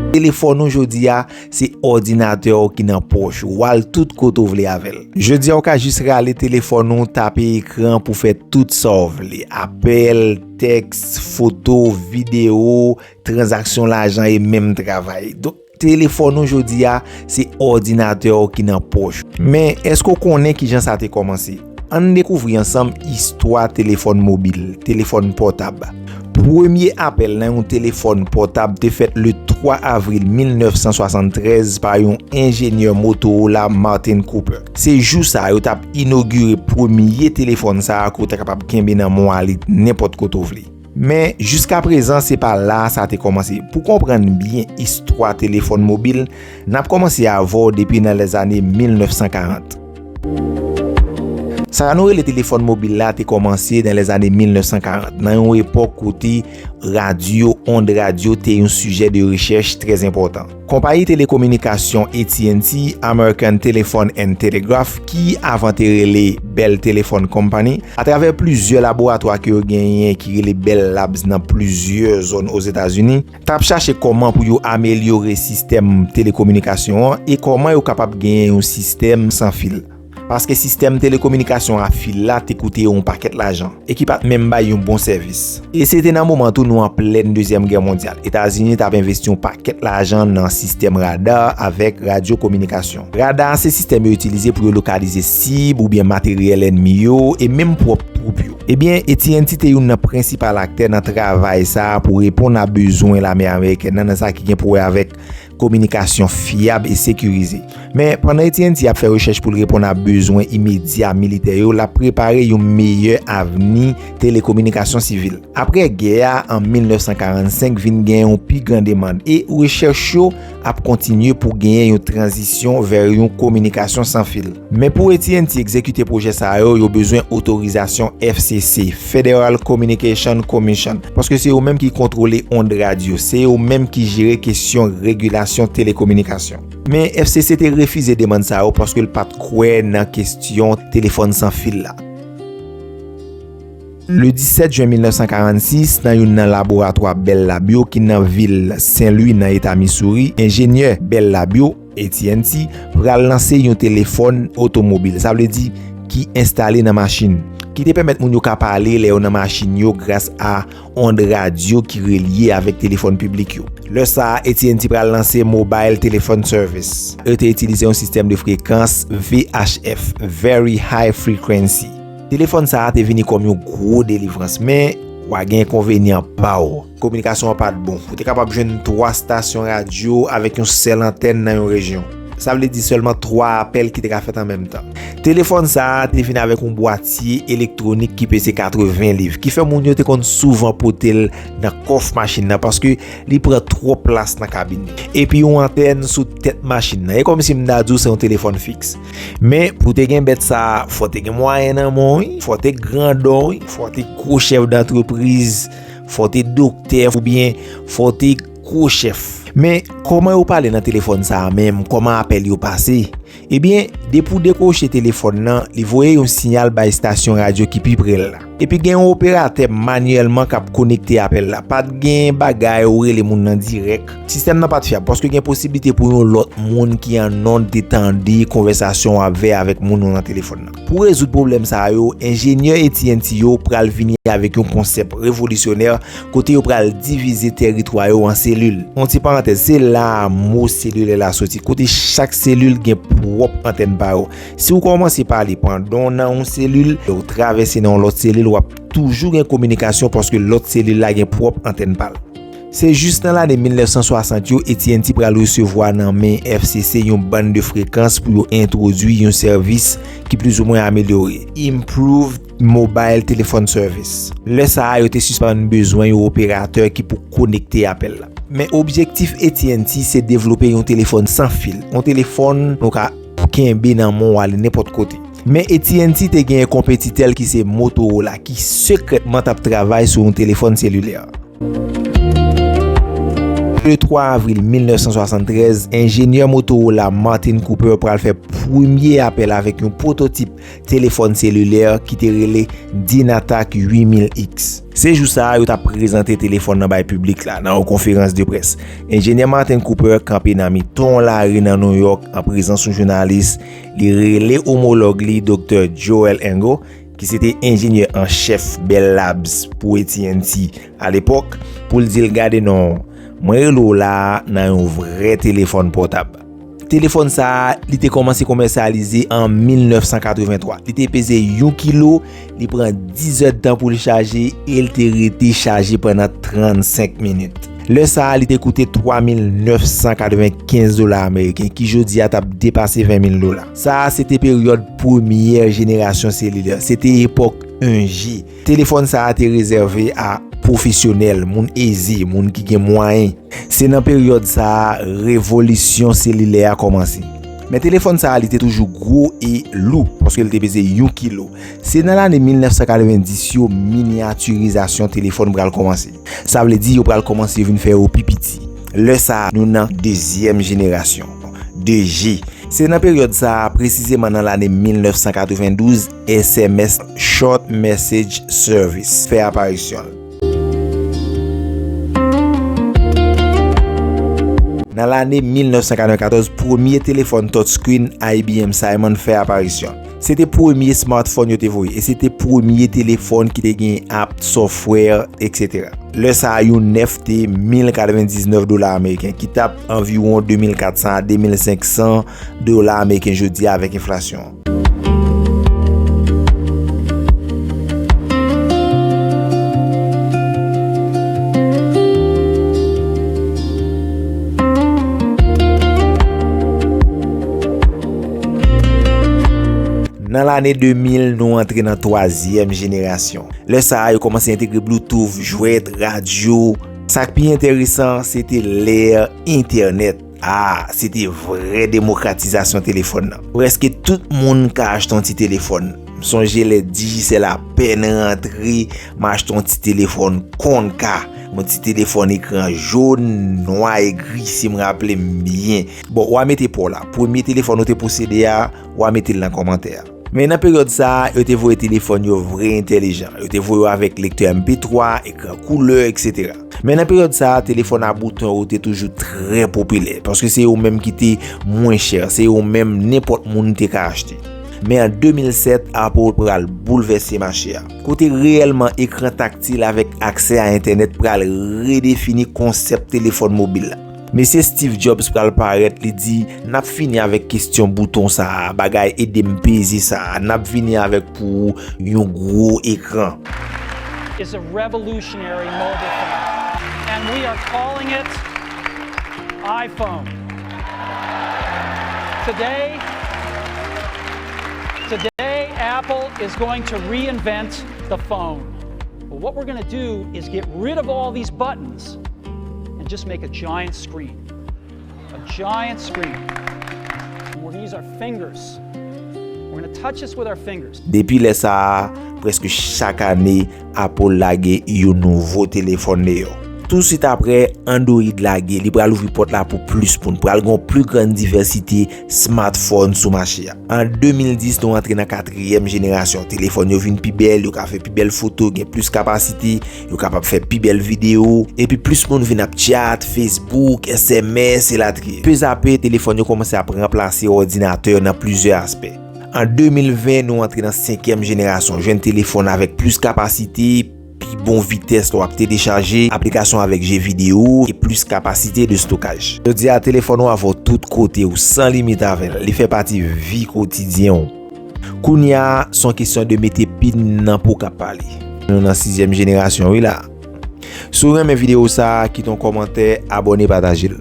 Telefòn ou jodi a, se òdinatè ou ki nan pòch ou, wal tout kote ou vle avèl. Jodi a ou ka jis rale telefòn ou, tape ekran pou fè tout sa ou vle. Apèl, tèks, foto, video, transaksyon lajan e menm travay. Telefòn ou jodi a, se òdinatè ou ki nan pòch ou. Men, èske ou konnen ki jan sa te kòmanse? An n dekouvri ansanm istwa telefòn mobil, telefòn pòtab. Premye apèl nan yon telefòn pòtab te fèt le 3 avril 1973 pa yon enjenyè Motorola Martin Cooper. Se jou sa a yo t ap inogire premye telefòn sa a ke ou ta kapab kenbe nan mwa li nenpòt kote ou vle. Men, jiska prezan se pa la sa te kòmanse. Pou konprann byen istwa telefòn mobil, n ap kòmanse avè w depi nan lèzane 1940. Sa nou rele telefòn mobil la te kòmanse nan lèzane 1940, nan yon epòk kote radyo, ond radyo, te yon sijè de rechèch trèzenpòtan. Konpayi telekominikasyon AT&T, American Telephone and Telegraph, ki avan te rele Bell Telephone Company, atravè plizyè laboratwa ke yo genyen ki rele Bell Labs nan plizyè zòn Ozetazini, t ap chache kòman pou yo amelyore sistèm telekominikasyon an e kòman yo kapab genyen yon sistèm san fil. Paske sistèm telekominikasyon a fil la te koute yo yon pakèt lajan, e ki pa t menm bay yon bon sèvis. E se te nan moman tou nou an plèn Dezyèm Gè Mondyal. Etazini t ap envesti yon pakèt lajan nan sistèm rada avèk radyokominikasyon. Rada se sistèm yo itilize pou yo lokalize sib oubyen materyèl ènmi yo e menm pwòp twoup yo. Ebyen, AT&T te youn nan prensipal aktè nan travay sa a pou reponn a bezwen lame amerikèn nan nan sa ki gen pou wè avèk kominikasyon fyab e sekirize. Men, pandan AT&T ap fè rechèch pou l reponn a bezwen imedya militè yo, l ap prepare yon meyè avni telekominikasyon sivil. Apre gè a, an 1945 vin gen yon pi gran demand, e rechèch yo ap kontinye pou genyen yon tranzisyon vè yon kominikasyon san fil. Men pou AT&T egzekite pwojè sa yo, yo bezwen otorizasyon FCC, Federal Communication Commission, paske se yo menm ki kontwole ond radyo, se yo menm ki jere kesyon regilasyon telekominikasyon. Men FCC te refize demann sa yo paske l pat kwè nan kesyon telefòn san fil la. Le 17 jen 1946, nan youn nan laboratwa Bell Lab yo ki nan vil Sen Lwi nan eta Missouri, enjenyè Bell Lab yo, AT&T pral lanse yon telefòn otomobil, sa vle di ki enstale nan machin, ki te pèmèt moun yo ka pale lè yo nan machin yo gras a ond radyo ki relye avèk telefòn piblik yo. Lè sa a, AT&T pral lanse Mobile Telephone Service. Yo te itilize yon sistèm de frekans VHF, Very High Frequency. Telefòn sa a te vini kòm yon gwo delivrans, men, wa gen enkonvenyan pa w. Kominikasyon an pa t bon. Ou te kapab jwenn 3 stasyon radyo avèk yon sèl antèn nan yon rejyon. Sa vle di sèlman 3 apèl ki te ka fèt an menm tan. Telefòn sa a te vin avèk yon bwatye elektwonik ki peze 80 liv, ki fè moun yo te konn souvan pote l nan kòf machin nan paske li pran twòp plas nan kabin. Epi yon antèn sou tèt machin nan. E kòmsi m ta di w se yon telefòn fiks. Men, pou w te gen bèt sa a, fò w te gen mwayen nan men w wi, fò w te grandon wi, fò w te gwo chèf dantrepriz. Fò w te doktè oubyen fò w te gwo chèf. Men, kòman yo pale nan telefòn sa a menm, kòman apèl yo pase? Ebyen, depi w dekwoche telefòn nan, li voye yon siyal bay stasyon radyo ki pi pre l la. Epi gen yon operatè manyèlman k ap konekte apèl la. Pa t gen bagay ou rele moun nan dirèk. Sistèm nan pa t fyab paske gen posiblite pou yon lòt moun ki annonn te tande konvèsasyon w ap ve avèk moun ou nan telefòn nan. Pou rezoud pwoblèm sa a yo, enjenyè AT&T yo pral vini avèk yon konsèp revolisyonè kote yo pral divize tèritwa yo an selil. Yon ti parantèz, se la a mo selilè la soti, kote chak selil gen pwòp antèn pa yo. Si ou kòmanse pale pandan w nan yon selil, lè ou travèse nan yon lòt selil, w ap toujou gen kominikasyon paske lòt selil la gen pwòp antèn pa l. Se jis nan lane 1960 yo AT&T pral resevwa nan men FCC yon bann de frekans pou yo entwodui yon sèvis ki plizoumwen amelyore, Improved Mobile Telephone Service. Lè sa a yo te sispann bezwen yon operatè ki pou konekte apèl la. Men objektif AT&T se devlope yon telefòn san fil, yon telefòn nou ka. pou kenbe nan men w ale nenpòt kote. Men AT&T te genyen konpetitè l ki se Motorola ki sekrètman t ap travay sou yon telefòn selilè. Le 3 avril 1973, enjenyè Motorola Martin Cooper pral fè premye apèl avèk yon pwototip Telefòn selilè ki te rele Dynatac 8000X. Se jou sa a yo t ap prezante telefòn nan bay piblik la nan yon konferans de près. Enjenyè Martin Cooper kanpe nan mitan yon lari nan New York an prezans yon jounalis, li rele omològ li Doktè Joel Engel, ki se te enjenyè an chèf Bell Labs pou AT&T alepòk, pou l di l gade non, mwen rele w la a nan yon vrè telefòn pòtab. Telefòn sa a, li te kòmanse komèsyalize an 1983. Li te peze yon kilo, li pran 10 èd tan pou li chaje, e li te rete chaje pandan 35 minit. Lè sa a, li te koute 3,995 dola ameriken, ki jodi a t ap depase 20,000 dola. Sa a, se te peryòd premyè jenerasyon selilè. Se te epòk 1G. Telefòn sa a te rezève a pwofesyonèl, moun eze, moun ki gen mwayen. Se nan peryòd sa a revolisyon selilè a kòmanse. Men telefòn sa a li te toujou gwo e lou, paske li te peze yon kilo. Se nan lane 1990 yo minyatirizasyon telefòn pral kòmanse. Sa vle di yo pral kòmanse vin fè yo pi piti. Lè sa a nou nan dezyèm jenerasyon, 2G. Se nan peryòd sa a, presizeman nan lane 1992, SMS, Short Message Service, fè aparisyon l. Nan lane 1994, premye telefòn touchscreen IBM Simon fè aparisyon l. Se te premye smartphone yo te voye, e se te premye telefòn ki te gen app, software, etc. Lè sa a, yon nèf te 1099 dola ameriken, ki t ap anviwon 2400 a 2500 dola ameriken jodi a avèk enflasyon. Nan lane 2000, nou antre nan twazyèm jenerasyon. Lè sa a, yo komanse entegre bloutouf, jwèt, radyo. Sa k pi enteresan, se te lè entènèt. A, se te vrè demokratizasyon telefòn nan. Prèske tout moun ka achte yon ti telefòn. M sonje lè Digicel apèn rantre, m achte yon ti telefòn Konka. Yon ti telefòn ekran jòn, nwa e gri si m raple m byen. Bon, w a mete pa w la. Premye telefòn ou te posede a, w a mete l nan kòmantè a. Men nan peryòd sa, yo te voye telefòn yo vre entèlijan. Yo te voye yo avèk lektè MP3, ekran koulè, etc. Men nan peryòd sa, telefòn a bouton yo te toujou trè popilè, paske se yo menm ki te mwen chè, se yo menm nenpòt moun te ka achte. Men an 2007, Apple pral boulvèse mache a, kote reyèlman ekran taktil avèk aksè a entènèt pral redefini konsèp telefòn mobil la. Mesye Steve Jobs pral parèt li di nap fini avèk kestyon bouton sa a bagay edem peze sa a nap vini avèk pou ou yon gwo ekran. Depi lè sa a, prèske chak ane, Apple lage yon nouvo telefòn deyò. Tousuit apre, Android lage, li pral ouvri pòt la pou plis moun. Pral gen yon pli grann divèsite smartphone sou mache a. An 2010, nou antre nan katriyèm jenerasyon. Telefòn yo vin pi bèl, yo ka fè pi bèl foto, gen plis kapasite. Nou kapab fè pi bèl video, epi plis moun vin ap chat, Facebook, sms, elatriye. Pezape, telefòn yo kòmanse ap ranplase òdinatè yo nan plizyè aspè. An 2020, nou antre nan senkyèm jenerasyon jwenn telefòn avèk plis kapasite, pi bon vitès lè w ap telechaje aplikasyon avèk je video, e plis kapasite de stokaj. Jodi a, telefòn ou avè w tout kote ou, san limit avè l. Li fè pati vi kotidyen ou. Kounya son kesyon de mete pin nan pou ka pale. Nou nan sizyèm jenerasyon wi la. Si w renmen video sa kite yon kòmantè, abone pataje l.